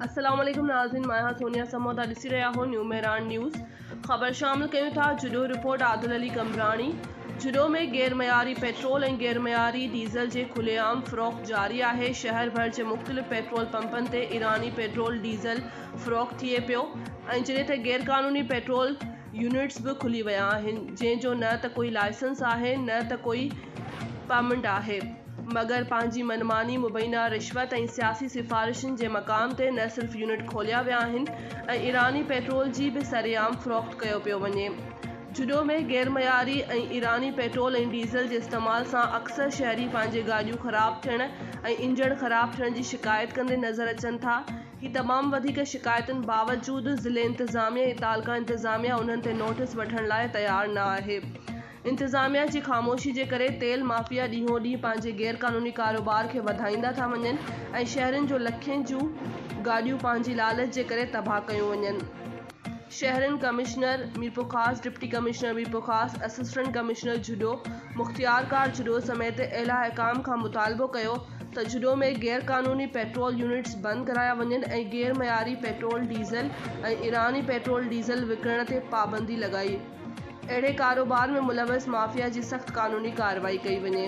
السلام عليڪم ناظرين مان آهيان سونيا سمون ته ڏسي رهيا آهو نيو مهراڻ نيوز خبر شامل ڪيون ٿا جهڏو رپورٽ عادل علي قمبراڻي جهڏو ۾ غير معياري پيٽرول ۽ غير معياري ڊيزل جي کلي عام فروخت جاري آهي شهر ڀر جي مختلف پيٽرول پمپن تي ايراني پيٽرول ڊيزل فروخت ٿئي پيو ۽ جڏهن ته غير قانوني پيٽرول يونٽس به کلي ويا آهن جنهن جو نه ته ڪوئي لائسنس آهي نه ته ڪوئي پرمنٽ آهي مگر پنهنجي منماني مبينا رشوت ۽ سياسي سفارشن جي مقام تي نه صرف يونٽ کوليا ويا آهن ۽ ايراني پيٽرول جي به سري عام فروخت ڪيو پيو وڃي جهڏو ۾ غيرمعياري ۽ ايراني پيٽرول ۽ ڊيزل جي استعمال سان اڪثر شهري پنهنجي گاڏيون خراب ٿيڻ ۽ انجڻ خراب ٿيڻ جي شڪايت ڪندي نظر اچن ٿا. هي تمام وڌيڪ شڪايتن باوجود ضلعي انتظاميه ۽ تعلقه انتظاميه انهن تي نوٽس وٺڻ لاء تيار نه آهي. انتظاميه جي خاموشي جي ڪري تيل مافيا ڏينهون ڏينهن پنهنجي غير قانوني ڪاروبار کي وڌائيندا ٿا وڃن ۽ شهرين جون لکين جون گاڏيون پنهنجي لالچ جي ڪري تباهه ڪيون وڃن. شهرين commissioner Mirpurkhas, deputy commissioner Mirpurkhas, assistant commissioner Jhuddo, مختيارڪار جھڏو سميت اعليٰ حڪام کان مطالبو ڪيو ته جھڏو ۾ غير قانوني پيٽرول يونٽس بند ڪرايا وڃن ۽ غير معياري پيٽرول ڊيزل ۽ ايراني پيٽرول ڊيزل وڪڻڻ تي پابندي لڳائي اهڙي ڪاروبار ۾ ملوث مافيا جي سخت قانوني ڪارروائي ڪئي وڃي.